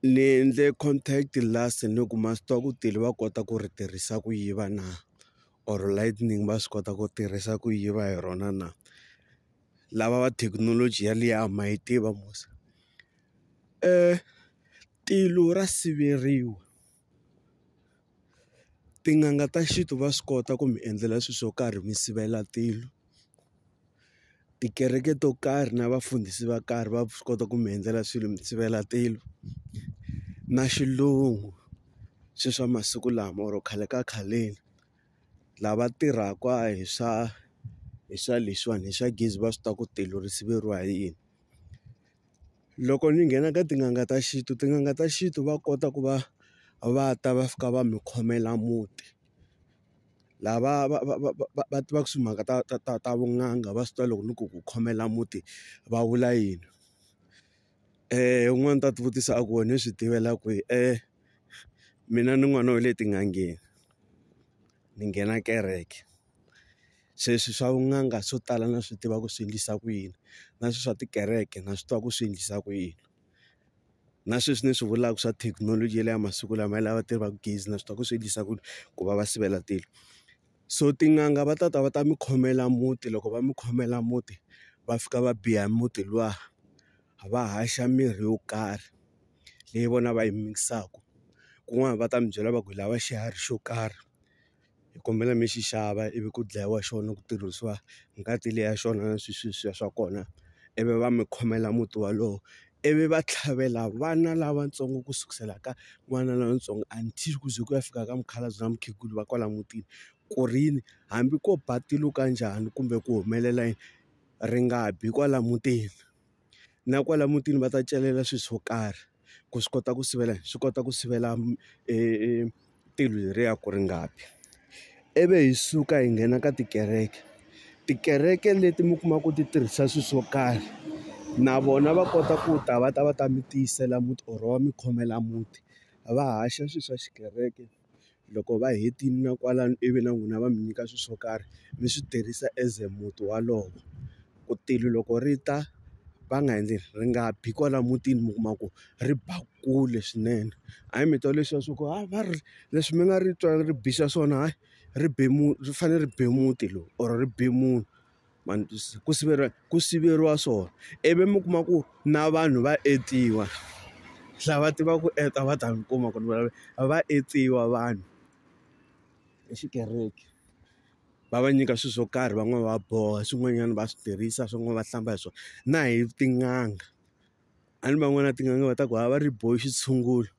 Ni endle contact last ni ku ma swi tiva ku tele va kota ku ri tirhisa ku yiva na or lightning va swi kota ku tirhisa ku yiva hi rona na lava va thekinoloji ya liya a ma yi tiva musa tilo ra siveriwa. tin'anga ta xintu va swi kota ku mi endlela swilo swo karhi mi sivela tilo tikereke to karhi na vafundhisi va karhi va swi kota ku mi endzela swilo mi sivela tilo na xilungu swe swa masiku lama or khale ka khaleni lava tirhaka hi swa hi swa leswiwani hi swa gezi va swi tiva ku tilo ri siveriwa hi yini. loko ni nghena ka tin'anga ta xintu tin'anga ta xintu va kota ku va va ta va fika va mi khomela muti lava va va va va va tivaka timhaka ta ta ta ta vun'anga va swi tiva loko ni ku ku khomela muti va vula yini un'wana u ta ti vutisa a ku wena u swi tivela kwihi mina ni n'wana wa le tin'angeni ni nghena kereke. se swi swa vun'anga swo tala na swi tiva ku swi endlisa ku yini na swi swa tikereke na swi tiva ku swi endlisa ku yini na sweswi ni swi vulaka swa thekinoloji ya le ya masiku lama ya lava tirhaka gezi na swi tiva ku swi endlisa ku ku va va sivela tilo so tin'anga va ta ta va ta mi khomela muti loko va mi khomela muti va fika va biya muti luwa va haxa mirhi yo karhi leyi vona va yi mix-aka kun'wana va ta mi byela va ku hi lava xiharhi xo karhi. hi kombela mi xi xava ivi ku dlayiwa xona ku tirhisiwa ngati leyi ya xona na swisweswiya swa kona ivi va mi khomela muti wolowo ivi va tlhavela vana lavatsongo ku sukusela ka n'wana lontsongo until ku ze ku ya fika ka mukhalabye na mukhegula va kwala mutini ku ri yini hambi ko ba tilo ka njhani kumbe ku humelela yini ri nga bi kwala mutini. na kwala mutini va ta celela swilo swo karhi ku swi kota ku sivela swi kota ku sivela tilo leriya ku ri nga bi ivi hi suka hi nghena ka tikereke tikereke leti mi kumaka ku ti tirhisa swilo swo karhi na vona va kota ku ta va ta va ta mi tiyisela muti or va mi khomela muti va haxa swilo swa xikereke. loko va hetile na kwalano ivi na n'wina va mi nyika swilo swo karhi mi swi tirhisa as a muti wolowo ku tilo loko ri ta va nga endli ri nga bi kwala mutini mi kuma ku ri ba kule swinene hayi mi twa leswiya swa ku hayi va ri leswi mi nga ri twa ri bixa swona hayi ri be ri fanele ri be muti lowu or ri be munhu. ma ni twisisa ku siveriwa ku siveriwa swona ivi mi kuma ku na vanhu va etiwa lava tivaka ku endla va ta mi kuma ku ri vulavula va etsiwa vanhu hi xikereke va va nyika swilo swo karhi van'wani va boha swin'wanyana va swi tirhisa swin'wana va hlamba hi swona na hi tin'anga. A ni van'wana tin'anga va ta ku a va ri boxa xitshungulo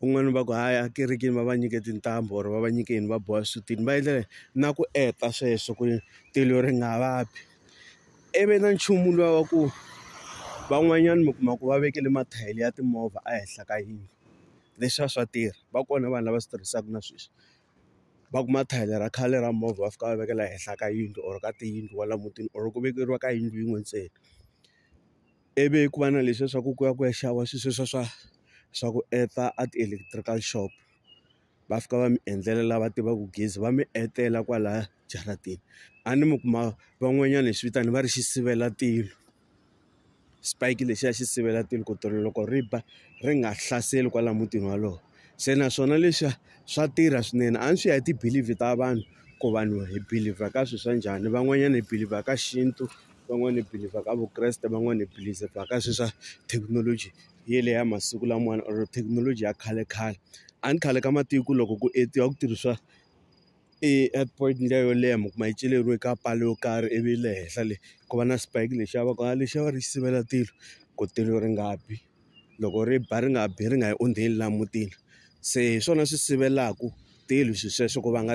un'wana va ku a ya ekerekeni va va nyike tintambu or va va nyike yini va boha xisutini va endlela na ku endla sweswo ku ri tilo ri nga va bi i vi na nchumu luwa wa ku van'wanyana mi kuma ku va vekele mathayere ya timovha ehenhla ka yindlu leswiya swa tirha va kona vanhu lava swi tirhisaka na sweswi va ku mathayere ra khale ra movha va fika va vekela ehenhla ka yindlu or ka tiyindlu kwala mutini or ku vekeriwa ka yindlu yin'we ntsena. ivi ku va na leswiya swa ku ku ya ku ya xava swilo sweswiya swa swa ku endla a ti-electrical shop va fika va mi endlela lava tivaka gezi va mi endlela kwalaya jaratini a ni mi kuma van'wanyana hi swi vitana va ri xi sivela tilo xipaki lexiya xi sivela tilo ku tilo loko ri ba ri nga hlaseli kwala mutini wolowo se naswona leswiya swa tirha swinene a ni swi ya hi ti-believe ta vanhu ku vanhu hi believer ka swilo swa njhani van'wanyana hi believer ka xintu. van'wani hi believe-a ka vukreste van'wani hi believe-a ka sweswa thekinoloji ye le ya masiku lamawani or thekinoloji ya khale khale a ni khale ka matiko loko ku etiwa ku tirhisiwa e at point liya yo leha mi kuma yi celeriwe ka pala yo karhi ivi le henhla le ku va na spike lexiya va ku a lexiya va ri xi sivela tilo ku tilo ri nga bi loko ri ba ri nga bi ri nga yi ondzeli laha mutini se hi swona swi sivelaku tilo swi sweswo ku va nga.